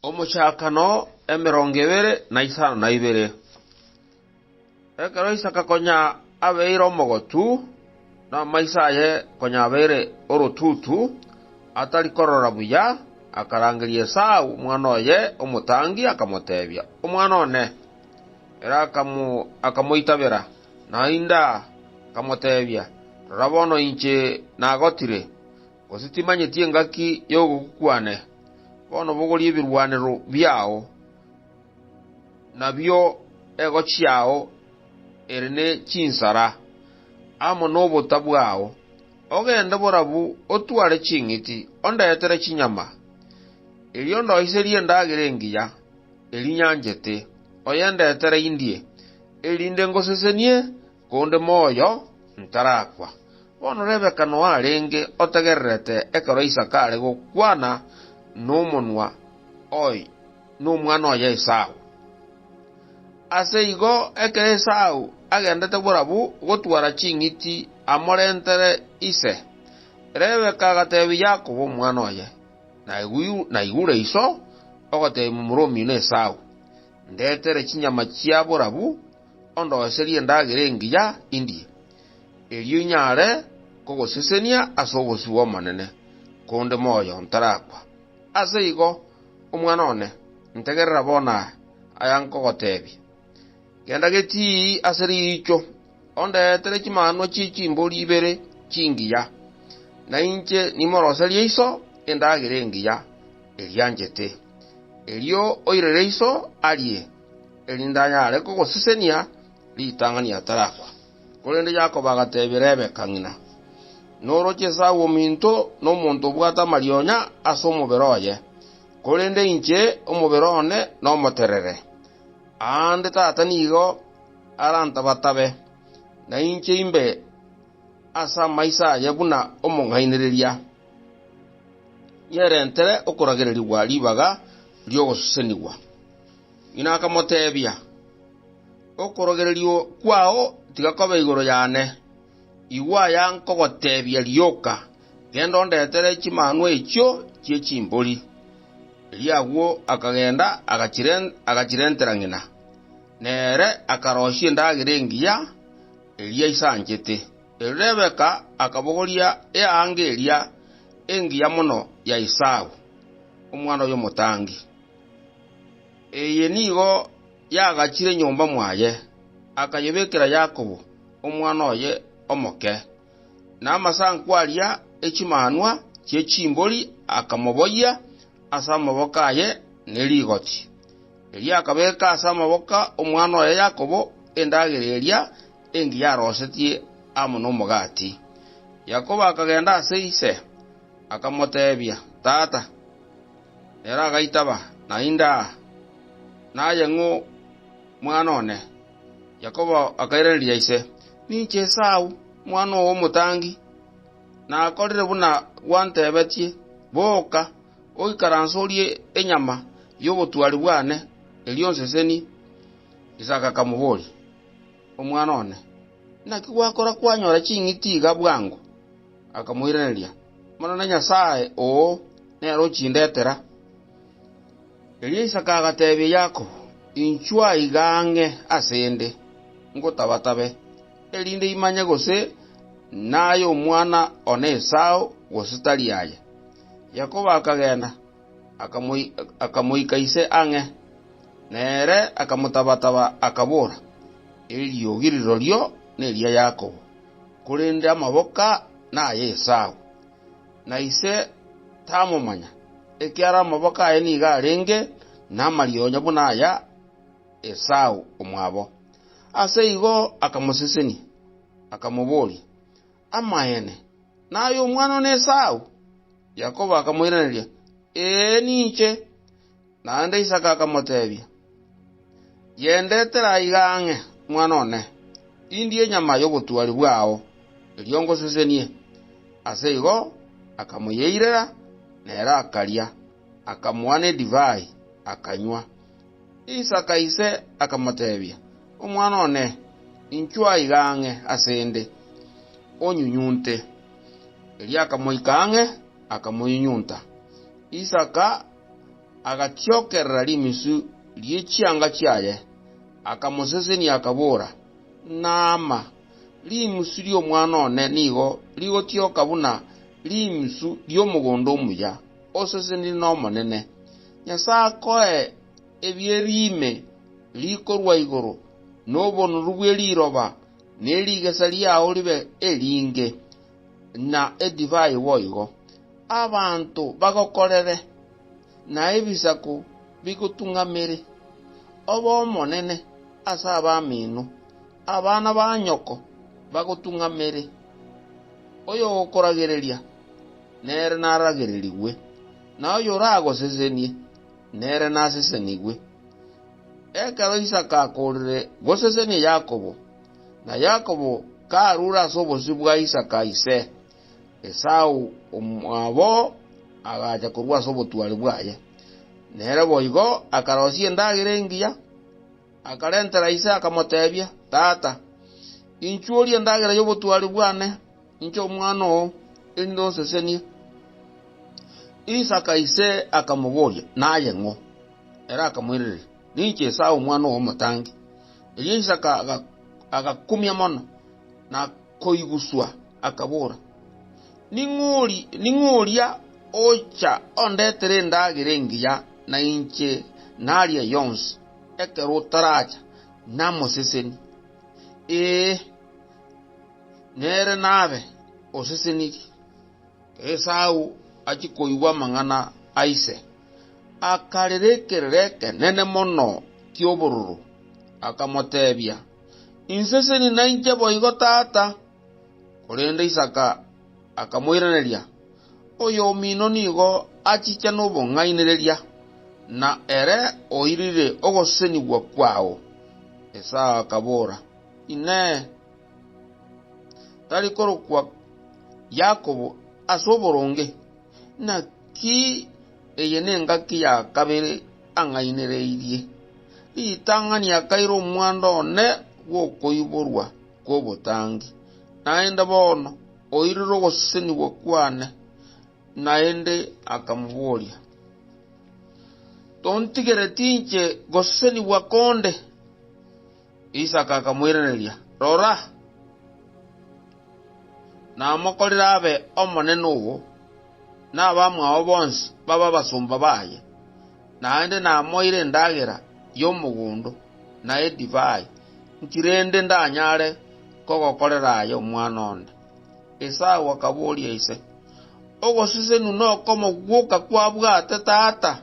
Omochakano emerongo ebere na isano na ibere. Ekero Isaka konya abeire omogotu, na amaiso aye konya abeire orotutu, atari korora buya, akarangeria Esau omwana oye omotangi, akamoteebia, Omwana one. Ere akamoitabera, naende akamoteebia, Rora bono inche nagotire, Gose timanyeti engaki y'ogokwa kwane? Bono bogoria ebirwanero biao, nabio egochi yao ere ne chinsara, amo nobota bwao. Ogende borabu otware ching'iti ondetere chinyama, erio ndoiserie endagera engiya, eria nyanchete, oyendetere indie, erinde ngosesenie Konde moyo ntarakwa. Bono Rebeka noarenge otegererete ekero Isaka are gokwana nomonwa oye nomwana oye Esau. Ase igo ekero Esau agendete borabu gotwara ching'iti amorentere ise, Rebeka agateebia Yakobo omwana oye, Naigure iso ogoteebia momura omino Esau, Ndetere chinyama chia borabu, ondoiserie endagera engiya indie, erio inyare kogosesenia ase obosio bw'Omonene, konde moyo ntarakwa. Ase igo, omwana one, ntegerera bono aya, aya nkogoteebia. Genda getii ase riicho, ondeetere chimanwa chie chimbori ibere chingiya, na inche nimoroserie iso endagera engiya, eria anchete. Erio oirere iso arie. erinde anyare kogosesenia ritang'ani atarakwa. Korende Yakobo agateebia Rebeka ng'ina, Noroche Esau ominto nomonto obwate amarionya ase omobere oye, korende inche omobere one nomoterere. Aande tata nigo arantabatabe, na inche imbe ase amaiso aye buna omong'ainereria, nyerentere okoragererigwa ribaga ri'ogosesenigwa. Ng'ina akamoteebia, Okorogererio kwao tiga kobe igoro yane. Igwa aya nkogoteebia, rioka, genda ondetere chimanwa echio chie chimbori. Erio agwo akagenda agachirentera ng'ina, na ere akaroisia endagera engiya eria aisanchete. Erio Rebeka akabogoria eanga eria engiya mono ya Esau, omwana oyomotangi. Eye nigo yagachire nyomba mwaye, akayebekera Yakobo, omwana oye omoke, na amasanku aria e chimanwa chie chimbori akamoboyia ase amaboko aye ne rigoti. Erio akabeka ase amaboko 'omwana oye Yakobo endagera eria engiya arosetie amo nomogati. Yakobo akagenda ase ise, akamoteebia, Tata! Ere agaitaba, Naende aa, naye ng'o mwana one? Yakobo akairaneria ise, Ninche Esau, omwana oo omotangi. Nakorire buna gwantebetie. Boka, oikaranse orie enyama y'obotwari bwane, erio onsesenie. Isaka akamoboria, Omwana one, naki gwakora kwanyora ching'iti iga bwango? Akamoiraneria, Monene Nyasae oo, nere ochindetera. Erio Isaka agateebia Yakobo, Inchwa aiga ang'e ase 'nde, ngotabatabe, erinde imanye gose naye omwana one Esau gose tari aye. Yakobo akagenda, akamoika ise ang'e, na ere akamotabataba, akabora, Eriogi rirorio neria Yakobo. korende amaboka naye Esau, na ise tamomanya, ekiagera amaboka aye nigo arenge namarionya buna aya Esau omwabo. Ase igo akamosesenia, akamoboria, Amaene, naye omwana one Esau? Yakobo akamoiraneria, Ee, ninche. Naende Isaka akamoteebia, Yendetere aiga ang'e, mwana one, indie enyama y'obotuari bwao, erio ngosesenie. Ase igo akamoyeirera, na ere akaria, akamoa nedivai, akanywa. Isaka ise akamoteebia, Omwana one, inchwa aiga ang'e ase 'nde, onyunyunte. Erio akamoika ang'e, akamoyunyunta. Isaka agachiokerera rimisu rie chianga chiaye, akamosesenia, akabora, Naama, rimisu ri'omwana one nigo rigotioka buna rimisu ri'omogondo omuya, osesenire n'Omonene. Nyasae akoe ebieri ime rikorwa igoro, na obonoru bwe riroba ne rigesa riao ribe eringe. na edivai boigo, abanto bagokorere, na ebisaku bigotung'amere, obe omonene ase abamino, abana ba nyoko bagotung'amere. Oyogokoragereria, nere naragererigwe, na oyoragosesenie, nere nasesenigwe. Ekero Isaka akoorire gosesenia Yakobo, Na Yakobo karure ase obosio bwa Isaka ise, Esau omwabo agacha korwa ase obotwari bwaye, nere boigo akarosia endagera engiya. Akarentera ise akamotebia, Tata, inchuo orie endagera y'obotwari bwane, inche omwana oo, erinde onsesenie. Isaka ise akamoboria, Naye ng'o? Ere akamoiraneria, Ninche Esau omwana omotangi. Erio Isaka agakumia mono, na koiguswa, akabora, Ning'o oria ocha ondetere endagera engiya na inche naria yonsi, ekero otaracha namoseseni? Ee, nere nabe osesenirie. Esau achia koigwa amang'ana a ise, akarera ekerero ekenene mono ki'obororo, akamoteebia, Inse sini nainche boigo, tata! Korende Isaka akamoiraneria, Oyomino nigo achicha nobong'ainereria, na ere oirire ogosesenigwa kwao. Esau akabora, Inee! tari korokwa Yakobo ase oboronge, naki eye nengaki ya kabere ang'ainereirie ritang'ani akaira omwando one bw'okoiborwa kw'obotangi. Naende bono oirire ogosesenigwa kwane. Naende akamoboria, Tontigereti inche gosesenigwa konde? Isaka akamoiraneria, Rora, namokorire abe omonene obo, na abamwao bonsi babe abasomba baye, naende namoire endagera y'omogondo na edivai, inki rende ndanyare kogokorera aye omwana onde? Esau akaboria ise, Ogoseseniwa nokomogwoka kwabwate tata?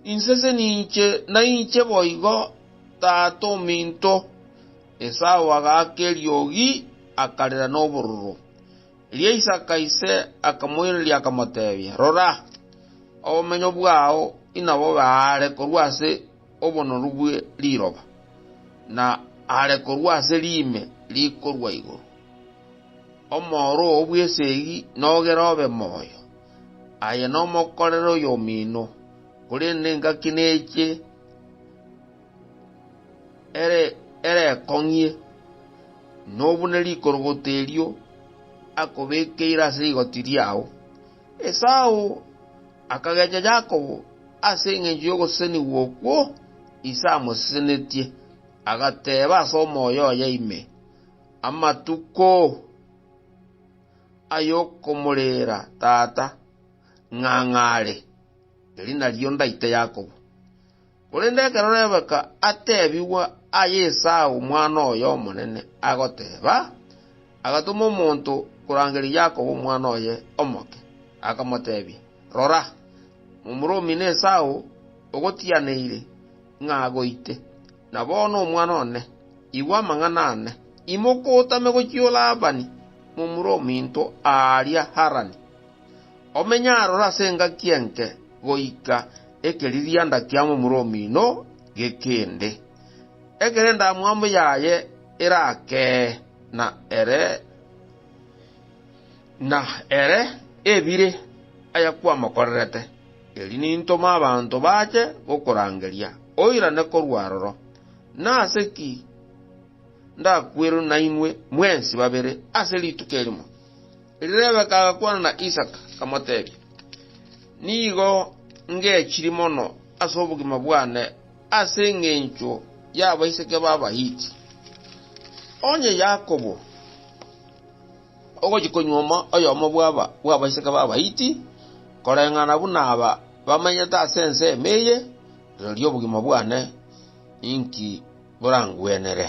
Inse seninche nainche boigo, tata ominto. Esau agaaka eriogi, akarera nobororo. Erio Isaka ise akamoiraneria akamotebia, Rora, obomenyo bwao inabobe aare korwa ase obonoru bwe riroba, na aare korwa ase riime rikorwa igoro. Omooro oo bw'esegi nogere obe moyo. Aye nomokorere oyomino, korende engaki neche ere erekong'ie, nobune rikorogoto erio akobekeire ase rigoti riao. Esau akagencha Yakobo ase engencho y'ogosesenigwa okwo ise amosesenetie, agateeba ase omoyo oye ime, Amatuko! ay'okomoreera tata, ng'ang'aare, eri nario ndaite Yakobo. Korende ekero Rebeka atebigwa aye Esau omwana oye omonene agoteeba, agatoma omonto korangeria Yakobo omwana oye omoke, akamotebia, Rora, momura omino Esau ogotianeire ng'a agoite. Na bono omwana one, igwa amang'ana aane, imoka otame gochio Labani, momura ominto aaria Harani. Omenye aroro ase engaki enke goika ekeririanda kia momura omino gekende, ekero endamwamu yaye erakee, na ere. Na ere ebire ayakwamokorerete, erio nintome abanto bache gokorangeria, oirane korwa aroro. Nase ki ndakwerwe nainwe mwensi babere ase rituko erimo? Rebeka agakwana na Isaka, akamotebia, Nigo ngechiri mono ase obogima bwane ase engencho y'abaiseke b'Abahiti. Onye Yakobo Ogochia konyuoma oyomo bw'aba bw'abaiseke b'Abahiti, koreng'ana buna aba bamenyete ase ense ime eye, rirorio obogima bwane ninki borangwenere.